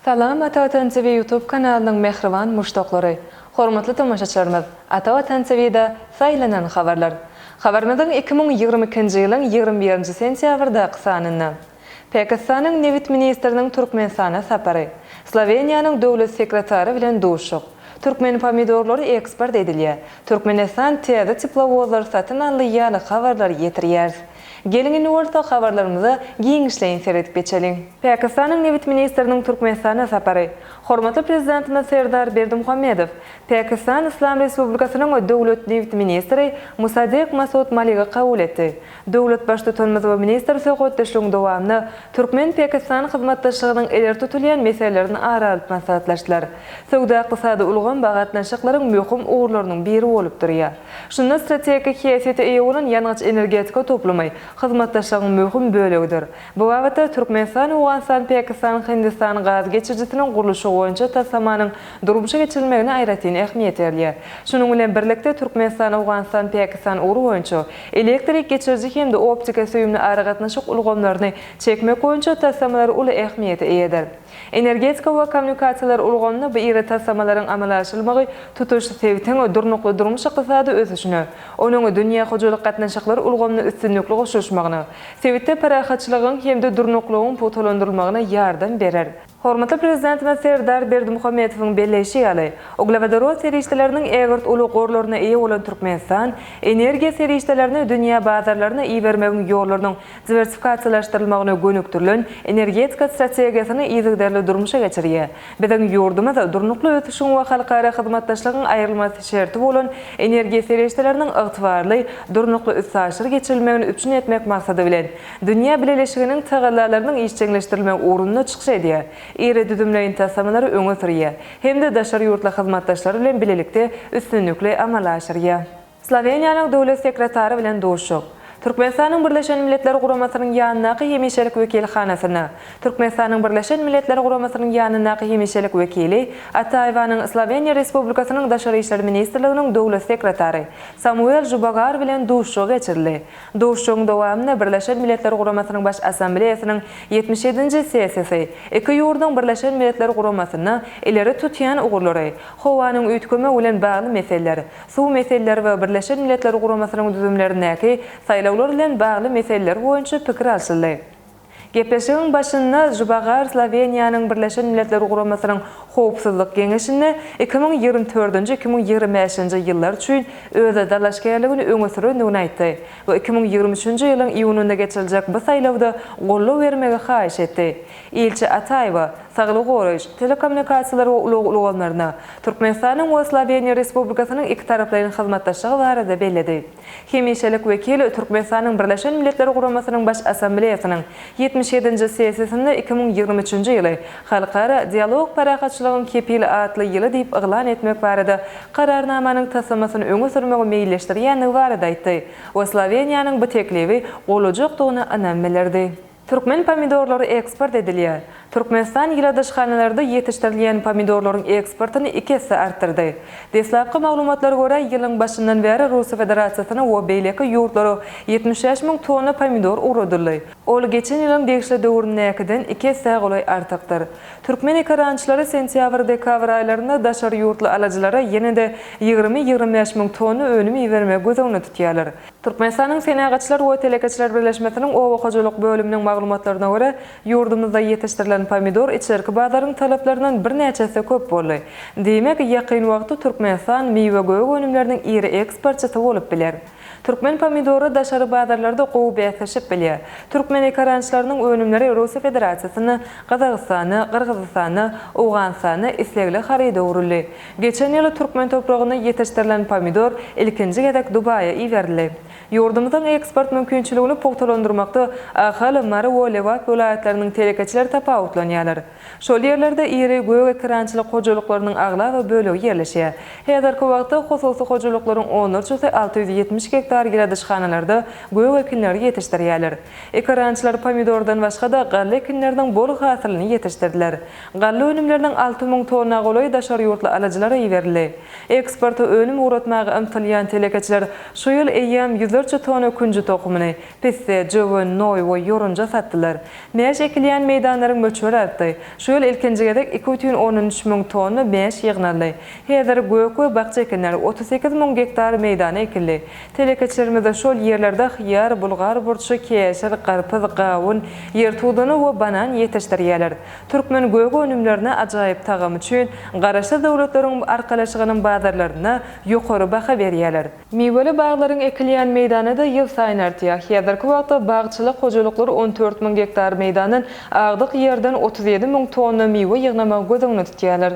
Salam Ata Watan TV YouTube kanalynyň mähriban muşdaklary! Hormatly tomaşaçylarymyz! Ata Watan TV-da saýlanan habarlar. Habarymyzyň iki müň ýigrimi ikinji ýylyň ýigrimi birinji sentýabrdaky sanynda. Pakistanyň nebit ministriniň Türkmenistana sapary, Sloweniýanyň döwlet sekretary bilen duşuk, türkmen pomidorlary eksport edilýär, Türkmenistan täze teplowozlary satyn aldy ýaly habarlary ýetirýäris. Geliň indi bolsa habarlarymyza giňişleýin seredip geçeliň. Pakistanyň nebit ministriniň Türkmenistana sapary, Hormatly Prezidentimiz Serdar Berdimuhamedow Pakistan Yslam Respublikasynyň döwlet nebit ministri Musaddiq Masud Maligy kabul etdi. Döwlet Baştutanymyz we ministr söhbetdeşligiň dowamynda türkmen-pakistan hyzmatdaşlygynyň ileri tutulýan meselelerini ara alyp maslahatlaşdylar. Söwda-ykdysady ulgam bagy gatnaşyklaryň möhüm ugurlarynyň biri bolup durýar. Şunda strategik häsiýete eýe bolan ýangyç-energetika toplumy hyzmatdaşlygyň möhüm bölegidir. Bu babatda Türkmenistan-Owganystan-Pakistan-Hindistan gaz geçirijisiniň gurluşygy boýunça taslamanyň durmuşa geçirilmegine aýratyn ähmiýet berilýär. Şunuň bilen birlikde Türkmenistan-Owganystan-Pakistan ugry boýunça Elektrik geçiriji hem-de optika süýümli aragatnaşyk ulgamlaryny çekmek boýunça taslamalar uly ähmiýete eýedir. Energetika we kommunikasiýalar ulgamynda bu iri taslamalaryň amala aşyrylmagy tutuş sebitiň durnukly durmuş-ykdysady ösüşine, onuň dünýä hojalyk gatnaşyklar ulgamyna üstünlikli goşulyşmagyna, sebitde parahatçylygyň hem-de durnuklylygyň pugtalandyrylmagyna ýardam berer. Hormatly Prezidentimiz Serdar Berdimuhamedowyň belleýşi ýaly, uglewodorod serişdeleriniň ägirt uly gorlaryna eýe bolan Türkmenistan energiýa serişdelerini dünýä bazarlaryna ibermegiň ýollarynyň diwersifikasiýalaşdyrylmagyna gönükdirilen energetika strategiýasyny yzygiderli durmuşa geçirýär. Biziň ýurdumyz durnukly ösüşiň we halkara hyzmatdaşlygyň aýrylmaz şerti bolan energiýa serişdeleriniň ygtybarly, durnukly üstaşyr geçirilmegini üpjün etmek maksady bilen, Dünýä bileleşiginiň tagallalarynyň işjeňleşdirilmegi ugrunda çykyş edýär, iri düzümleýin taslamalary öňe sürýär hem-de daşary ýurtly hyzmatdaşlary bilen bilelikde üstünlikli amala aşyrýar. Sloweniýanyň Döwlet sekretary bilen duşuşyk. Türkmenistanyň Birleşen Milletler Guramasynyň ýanyndaky hemişelik wekilhanasyna Türkmenistanyň Birleşen Milletler Guramasynyň ýanyndaky hemişelik wekili Ataýewanyň Sloweniýa Respublikasynyň Daşary işler ministrliginiň Döwlet sekretary Samuel Žubagar bilen duşuşygy geçirildi. Duşuşygyň dowamynda Birleşen Milletler Guramasynyň Baş Assambleýasynyň ýetmiş ýedinji sessiýasy iki ýurduň Birleşen Milletler Guramasynda ileri tutýan ugurlary, howanyň üýtgemegi bilen bagly meseleler, suw meseleleri we Birleşen Milletler Guramasynyň düzümlerindäki saýlawlar bilen bagly meseleler boýunça pikir alşyldy. Gepleşigiň başynda Žubagar Sloweniýanyň Birleşen Milletler Guramasynyň Howpsuzlyk Geňeşinde iki müň ýigrimi dördünji-iki müň ýigrimi bäşinji ýyllar üçin özä dalaşgärligini öňe sürendigini aýtdy we iki müň ýigrimi üçünji ýylyň iýunynda geçiriljek bu saýlawda goldaw bermegi haýyş etdi. Ilçi Ataýewa saglygy goraýyş, telekommunikasiýalar we ulag ulgamlaryna, Türkmenistanyň we Sloweniýa Respublikasynyň ikitaraplaýyn hyzmatdaşlygy barada belledi. Hemişelik wekil Türkmenistanyň Birleşen Milletler Guramasynyň Baş Assambleýasynyň ýetmiş ýedinji sessiýasynda iki müň ýigrimi üçünji ýyly Halkara Dialog parahatçylygyň kepili atly ýyly diýip yglan etmek barada Kararnamanyň taslamasyny öňe sürmegi meýilleşdirýändigi barada aýtdy we Sloweniýanyň bu teklibi golajakdygyna ynam bildirdi. Türkmen pomidorlary eksport edilýär. Türkmenistan ýyladyşhanalarda ýetişdirilýän pomidorlaryň eksportyny iki esse artdyrdy. Deslapky maglumatlara görä, ýylyň başyndan bäri Russiýa Federasiýasyna we beýleki ýurtlara ýetmiş bäş müň tonna pomidor ugradyldy. Ol geçen ýylyň degişli döwründäkiden iki essä golaý artykdyr. Türkmen ekerançylary sentýabr-dekabr aýlarynda daşary ýurtly alyjylara ýene-de ýigrimi-ýigrimi bäş müň tonna önüm ibermegi göz öňünde tutýarlar. Türkmenistanyň Senagatçylar we telekeçiler birleşmesiniň oba hojalyk bölüminiň maglumatlaryna görä, ýurdumyzda ýetişdirilen pomidor içerki bazaryň talaplaryndan birnäçe esse köp boldy. Diýmek, ýakyn wagtda Türkmenistan miwe-gök önümleriniň iri eksportçysy bolup biler. Türkmen pomidory daşary bazarlarda gowy bäsleşip bilýär. Türkmen ekarançylarynyň önümleri Russiýa Federasiýasynda, Gazagystanda, Gyrgyzystanda, Owganystanda islegli haryda öwrüldi. Geçen ýyl türkmen topragynda ýetişdirilen pomidor ilkinji gezek Dubaýa iberildi. Ýurdumyzyň eksport mümkinçiligini pugtalandyrmakda Ahal, Mary we Lebap welaýatlarynyň telekeçileri tapawutlanýarlar. Şol ýerlerde iri gök ekerançylyk hojalyklarynyň aglaba bölegi ýerleşýär. Häzirki wagtda hususy hojalyklaryň onlarçasy alty ýüz ýetmiş gektar ýyladyşhanalarda gök ekinleri ýetişdirýärler. Ekerançylar pomidordan başga-da galla ekinleriniň bol hasylyny ýetişdirdiler. Galla önümleriniň alty müň tonna golaý daşary ýurtly alyjylara iberildi. Eksporta önüm ugratmaga ymtylýan telekeçiler şu ýyl eýýäm ýüzlerçe tonna künji tohumyny, pisse, jöwen, noý we ýorunja satdylar. Mäş ekilýän meýdanlaryň möçberi artdy. Şu ýyl ilkinji gezek iki bütin ondan üç müň tonna mäş ýygnaldy. Häzir gök we bakja ekinleri otuz sekiz müň gektar meýdana ekildi. Telekeçilerimiz şol ýerlerde hyýar, bulgar burçy, keşir, garpyz, gawun, ýer tudany we banan ýetişdirýärler. Türkmen gök önümlerine ajaýyp tagamy üçin Garaşsyz Döwletleriň Arkalaşygynyň bazarlarynda ýokary baha berýärler. Miweli baglaryň ekilýän meýdany-da ýylsaýyn artýar. Häzirki wagtda bagçylyk hojalyklar on dört müň gektar meýdandan agdyk ýerden otuz ýedi müň tonna miwe ýygnamagy göz öňünde tutýarlar.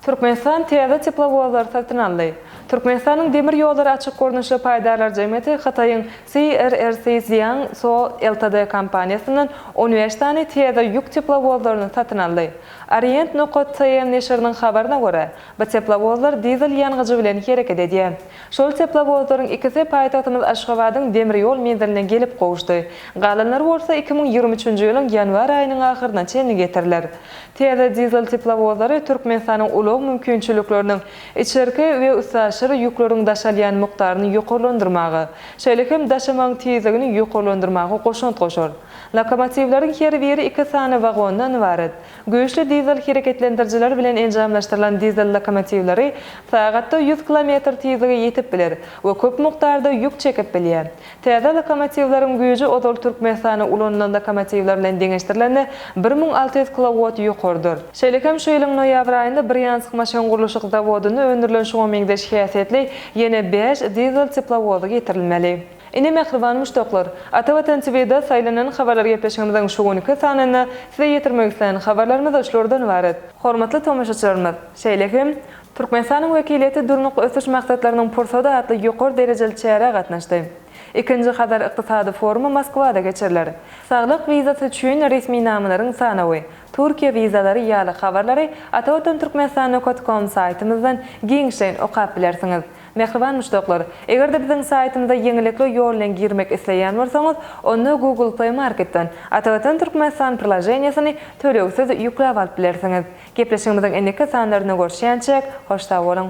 Türkmenistan täze teplowozlary satyn aldy. Türkmenistanyň demir ýollary açyk gurluşly paýdarlar jemgyýeti Hytaýyň CRRC Jiang Co Ltd kompaniýasyndan on bäş sany täze ýük teplowozlaryny satyn aldy. Orient Nokat TM neşiriniň habaryna görä, bu teplowozlar dizel ýangyjy bilen hereket edýär. Şol teplowozlaryň ikisi paýtagtymyz Aşgabadyň demir ýol menziline gelip gowuşdy, galanlary bolsa iki müň ýigrimi üçünji ýylyň ýanwar aýynyň ahyryna çenli getiriler. Täze dizel teplowozlary Türkmenistanyň ulag mümkinçilikleriniň içerki we üstaşyr ýükleriň daşalýan mukdaryny ýokarlandyrmaga, şeýle hem daşamagyň tizligini ýokarlandyrmaga goşant goşar. Lokomotiwleriň her biri iki sany wagondan ybarat. Güýçli dizel hereketlendirijiler bilen enjamlaşdyrylan dizel lokomotiwleri sagatda ýüz kilometr tizlige ýetip biler we köp mukdarda ýük çekip bilýär. Täze lokomotiwleriň güýji ozal Türkmenistanda ulanylan lokomotiwler bilen deňeşdirilende bir müň alty ýüz kilowott ýokarydyr. Şeýle hem şu ýylyň noýabr aýynda Brýansk maşyngurluşyk zawodynda öndürilen şuňa meňzeş häsiýetli ýene bäş dizel teplowozy getirilmeli. Ine, mähriban muşdaklar! Atavatan TV-de saýlanan habarlar gepleşigimiziň şu günki sanynda size ýetirmek islän habarlarymyz şulardan ybarat. Hormatly tomaşaçylarymyz, şeýle hem Türkmenistanyň wekiliýeti Durnukly ösüş maksatlarynyň pursady atly ýokary derejeli çärä gatnaşdy. Ikinji Hazar ykdysady forumy Moskwada geçiriler. Saglyk wizasy üçin resminamalaryň sanawy, Türkiýe wizalary ýaly habarlary atawatantürkmenistan.com saýtymyzdan giňişleýin okap bilersiňiz. Mähriban muşdaklar, eger-de biziň saýtymyza ýeňillikli ýol bilen girmek isleýän bolsaňyz, onda Google Play Marketden Atawatan Türkmenistan priloženiýesini tölegsiz ýükläp alyp bilersiňiz. Gepleşigimiziň indiki sanlarynda görüşýänçäk, hoş sag boluň!